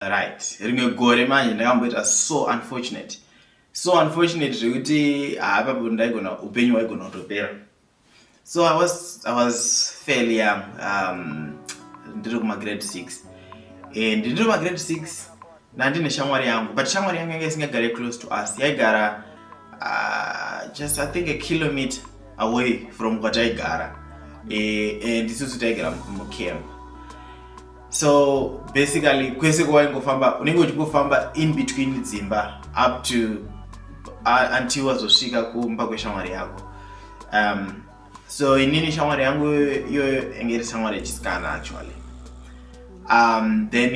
right rimwe gore manje ndakamboita so unfortunate so unfortunate zvekuti haapapo ah, ndaigona upenyu hwaigona kutopera so i was i was fairly young um, ndiri kumagrade six and ndiri kumagrade six ndandine shamwari yangu but shamwari yangu yanga isingagare close to us yaigara uh, just i think a kilometer away from kwataigara eh, and isusu taigara mucamp so basically kwese kwawaingofamba unenge uchingofamba in between dzimba up to uh, until wazosvika kumba kweshamwari yako um, so inini shamwari yangu iyoyo yange iri shamwari yechisikana actually um, then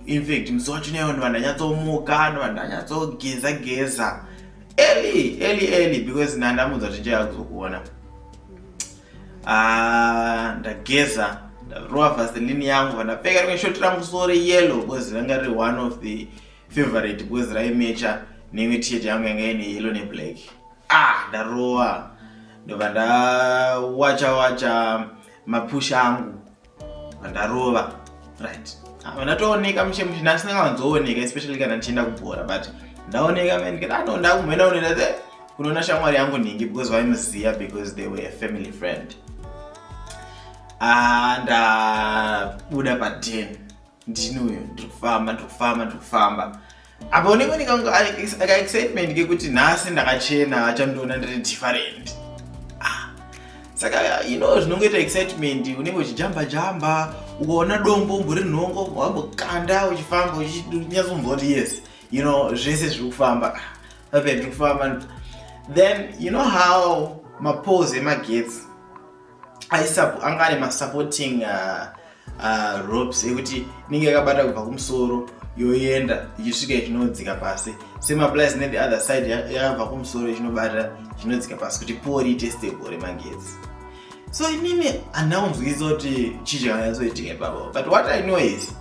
in fact musi wacho neyo ndova ndanyatsomuka ndova ndanyatsogeza geza early early early because nandamudza kuti njayakuzokuona Ah, ndageza ndarova vaseline yangu vandapfeka rimwe shoti rangu so reyellow because ranga riri one of the favorite because raimecha neimwe tshirt yangu yanga ine yellow neblack ah ndarova ndobva ndawacha wacha mapusha angu ndarova right ah, ndatooneka mushe mushe nhasi ndakawanzooneka especially kana ndichienda kubhora but ndaoneka man kana ano ndakumhena unoenda the kunoona shamwari yangu nhingi because vaimuziva because they were a family friend ah, ndabuda paden ndini uyo ndiri kufamba ndiri kufamba ndiri kufamba apa unenge unenge akaexcitement kekuti nhasi ndakachena achandiona ndiri different ah, saka you know zvinongoita excitement unenge uchijamba jamba ukaona dombo umbori nhongo wambokanda uchifamba uchinyatsomboti yes you know zvese zviri kufamba ah, ape ndiri kufamba then you know how mapose emagetsi anga ane masupporting uh, uh, ropes ekuti inenge yakabata kubva kumusoro yoenda ichisvika ichinodzika pasi semaplies nethe other side yakabva kumusoro ichinobata ichinodzika pasi kuti pori ite stable remagetsi so inini handina kunzwisa kuti chii chakanyatsoitika ipapo but what i know is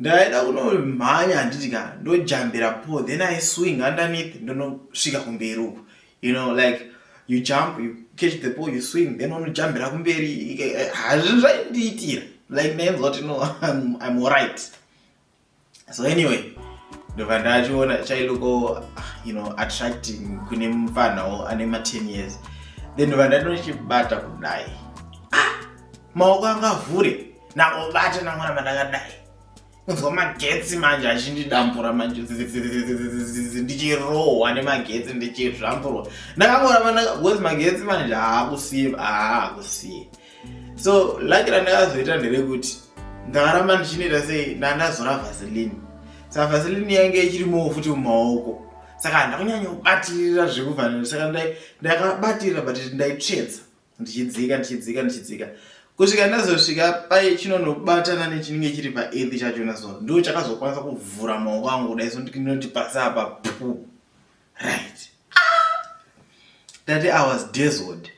Ndaida kunomhanya handiti ka ndojambira po then I swing underneath ndonosvika kumberi uku you know like you jump you catch the pole you swing then unojambira kumberi hazvi zvaindiitira like ndainzwa kuti no I'm, I'm alright so anyway ndobva ndachiona chailoko ah, you know attracting kune mupfanhawo ane ma 10 years then ndobva ndatochibata kudai maoko anga avhure nangobata namwana mandakadai kunzwa magetsi manje achindidambura manje ndichirohwa nemagetsi ndichizvamburwa ndakangoramba ndakabcoz magetsi manje haakusiye haakusiye so laki randakazoita nderekuti ndakaramba ndichinoita sei ndandazora vaseline saka vaseline yainge ichirimowo futi mumaoko saka handakunyanya kubatirira zvekufanira saka ndakabatirira but ndaitsvedza ndichidzika ndichidzika ndichidzika kusvika ndazosvika paye chinonobatana nechinenge chiri paethi chachona so ndo chakazokwanisa kuvhura maoko angu kudai so ndinoti pasi apa pu right ndati ah! i was dazzled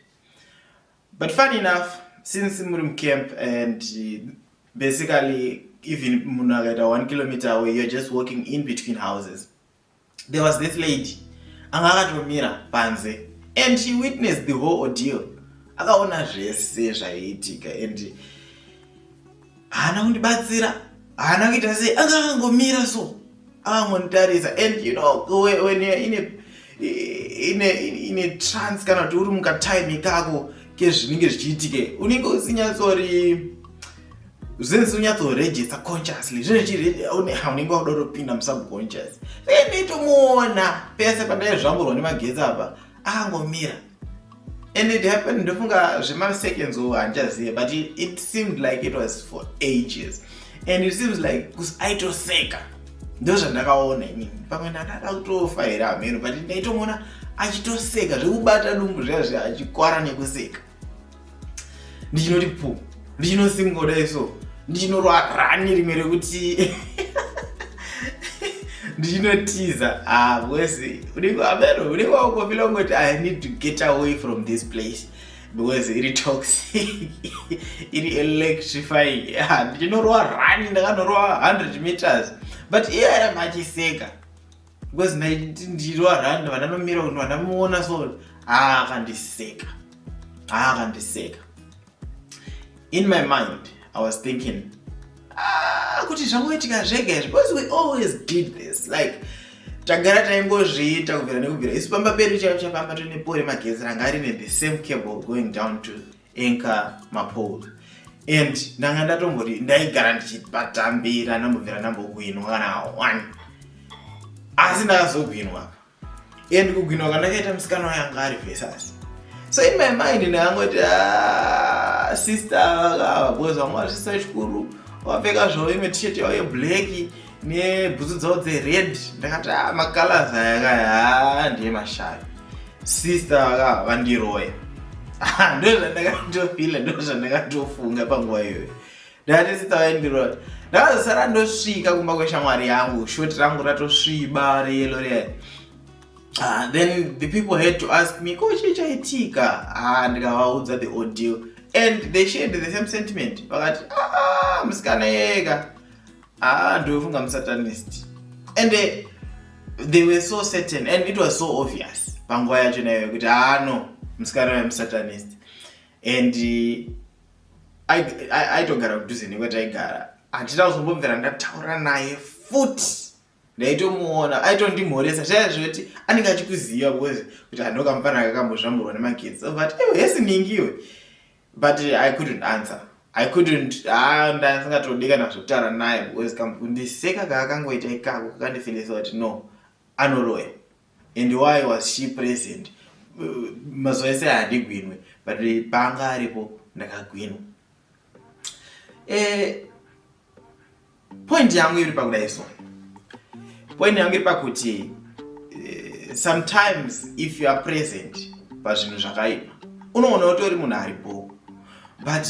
but fun enough since muri mucamp and basically even munhu akaita one kilometer away you're just walking in between houses there was this lady anga akatomira panze and she witnessed the whole ordeal akaona zvese zvaiitika and haana kundibatsira haana kuita sei anga akangomira so akangonditarisa and you know when you're in a ine ine trans kana kuti uri mukatime kako kezvinenge zvichiitike unenge usinyatsori Since unyatso register consciously zvino chiri haunenge wakuda kutopinda musubconscious then nditomuona pese pandai zvamburwa nemagetsi apa akangomira and it happened ndofunga zvemaseconds o handichazive but it, it seemed like it was for ages and it seems like kusi aitoseka ndozvandakaona inini pamwe ndakada kutofa here hameno but ndaitomuona achitoseka zvekubata dumbu zviya zviya achikwara nekuseka ndichinoti pu ndichinosingoda iso ndichinorwarani rimwe rekuti ndichinotiza ah because unenge ameno unenge wakufila kungoti i need to get away from this place because iri toxic iri electrifying ah, ndichinorwa rani ndakanorowa 100 meters but iye airamba achiseka because ndiro aranda vandanomira kuti vandamuona so aakandiseka aakandiseka in my mind i was thinking ah, kuti zvangoitika zvega izvi because we always did this like tagara taingozviita kubvira nekubvira isu pamba pedu chaivo chapamba tone pore magezi ranga rine the same cable going down to Enka Mapola and ndanga ndatomboti ndaigara ndichibatambira ndambobvira ndambokwinwa kana one asi ndakazogwinwa and kugwinwa kwandakaita musikana wayanga ari vesasi so in my mind ndakangoti ah, sister vakava because vanga vachisisa chikuru wapfeka zvavo imwe t-shirt yavo yeblack nebhutsu dzavo dzered ndakati ah, macolors aya kaya ah, ndiye mashavi sister vaka vandiroya ah, ndo zvandakatofila ndo zvandakatofunga panguva iyoyo ndakati sister vaindiroya ndakazosara ndosvika kumba kweshamwari yangu shoti rangu ratosviba reyelo riyai Uh, then the people had to ask me ko chii chaitika ah, ndikavaudza the audio and they shared the same sentiment vakati ah, musikana yeka haa ah, ndofunga musatanist and eh, they were so certain and it was so obvious panguva yacho nayo yekuti haa ah, no musikana waye musatanist and eh, aitogara kudhuze nekwataigara handina kuzombobvira ndataura naye futi ndaitomuona aitondimhoresa zvaya zvekuti anenge achikuziva bcause kuti handokamufana kakambozvamburwa nemagetsi but hesi ningiwe but i couldn't answer i couldn't ah, ndasingatodi kana zvekutaura naye because kundiseka kaakangoita ikako kakandifilisa kuti no anoroya and why was she present mazuva ese handigwinwe but paanga aripo ndakagwinwa eh, Point yangu iri pakudaiswa. Point yangu iri pakuti eh, sometimes if you are present pazvinhu zvakaipa unoona utori munhu ari bho but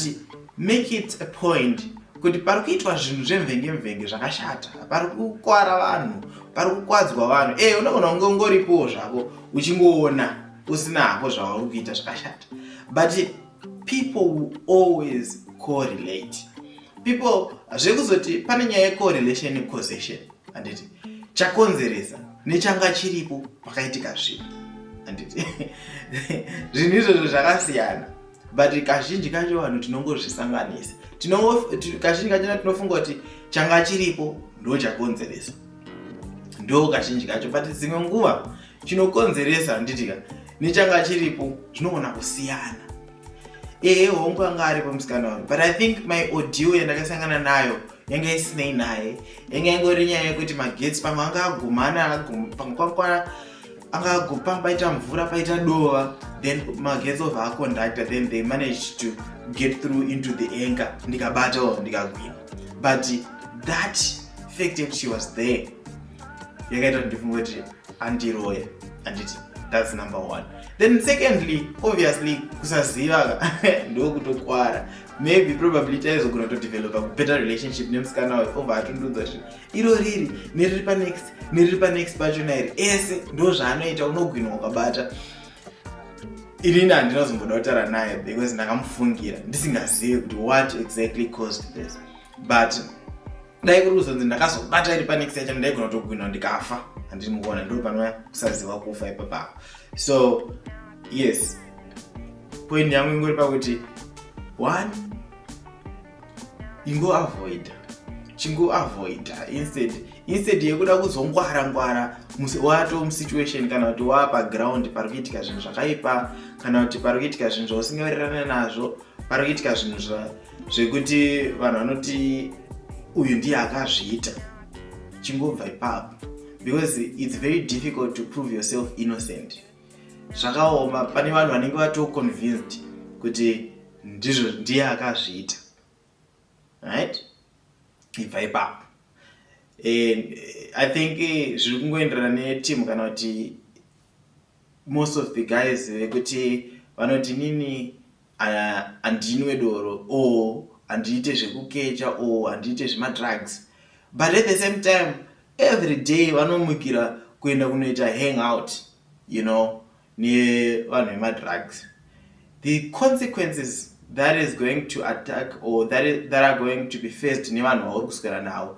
make it a point kuti pari kuitwa zvinhu zvemvenge mvenge zvakashata pari kukwara vanhu pari kukwadzwa vanhu e unoona kunge ungoripowo zvako uchingoona usina hako zvauri kuita zvakashata but people will always correlate people zvekuzoti pane nyaya yecorrelation necausation handiti chakonzeresa nechanga chiripo pakaitika zvinhu handiti zvinhu izvozvo zvakasiyana but kazhinji kacho vanhu tinongozvisanganisa kazhinji kachona tinofunga kuti changa chiripo ndo chakonzeresa ndo kazhinji kacho but dzimwe nguva chinokonzeresa handiti ka nechanga chiripo zvinogona kusiyana ehe hongu anga aripo musikana wangu but i think my audio yandakasangana nayo yanga isinei naye yanga ingori nyaya yekuti magetsi pamwe anga agumana pamwe kwakwana anga agupa paita mvura paita dova then magetsi ova aconductor then they managed to get through into the anchor ndikabatawo ndikagwina but that fact yekuti she was there yakaita kuti ndifunge kuti andiroya anditi that's number one then secondly obviously kusaziva ndokutokwara maybe probably taizogona kutodevelopa better relationship nemusikana wayo obva atondiudza kuti iro riri neriri panext neriri panext pachona iri ese ndo zvaanoita unogwinwa ukabata irini handinazomboda kutaura naye because ndakamufungira ndisingazivi kuti what exactly caused this but dai kuri kuzonzi ndakazobata iri panext yacho ndaigona kutogwina ndikafa handiri mukuona ndo panova kusaziva kufa ipapako so yes point yangu ingori pakuti one ingoavoida chingoavoida instead instead yekuda kuzongwara ngwara wato musituation kana kuti waa paground pari kuitika zvinhu zvakaipa kana kuti pari kuitika zvinhu zvausingawirirane nazvo pari kuitika zvinhu zvekuti vanhu vanoti uyu ndiye akazviita chingobva ipapo because its very difficult to prove yourself innocent zvakaoma pane vanhu vanenge vatoconvinced kuti ndizvo ndiye akazviita right ibva ipapo and i think eh, zviri kungoenderana netimu kana kuti Most of the guys vekuti vanoti nini handinwe doro or handiite zvekukecha or handiite zvemadrugs but at the same time every day vanomukira kuenda kunoita hang out you know nevanhu vemadrugs the consequences that is going to attack or that, is, that are going to be faced nevanhu vauri kuswera navo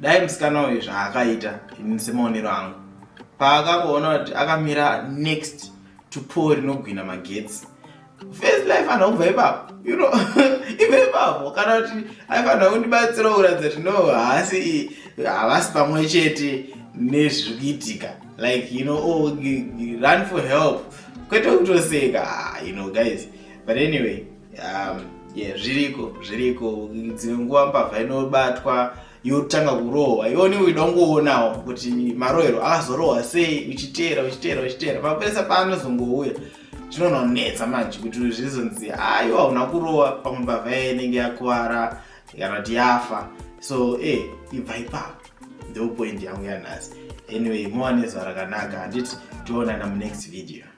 dai musikana uyu zvaakaita ini semaonero angu paakangoona kuti akamira next to pol rinogwina magetsi first life anhu kubva ipapo you know ibva ipapo kana kuti aifanira kundibatsira kuratidza kuti no haasi havasi pamwe chete nezviri kuitika like you know oh, run for help kwete kutoseka ah, you know guys but anyway um, yeah, zviriko zviriko dzimwe nguva mbavha inobatwa yotanga kurohwa ione idongoonawo kuti marohero akazorohwa sei uchiteera uchiteera uchiteera mapurisa paanozongouya zvinononetsa manje kuti zvizonzi aiwa hauna kurohwa pamwe mbavha yaye inenge yakuvara kana kuti yafa so e eh, ibva ipapo ndopoindi yangu yanhasi anyway mowa nezuva rakanaka handiti toonana munext video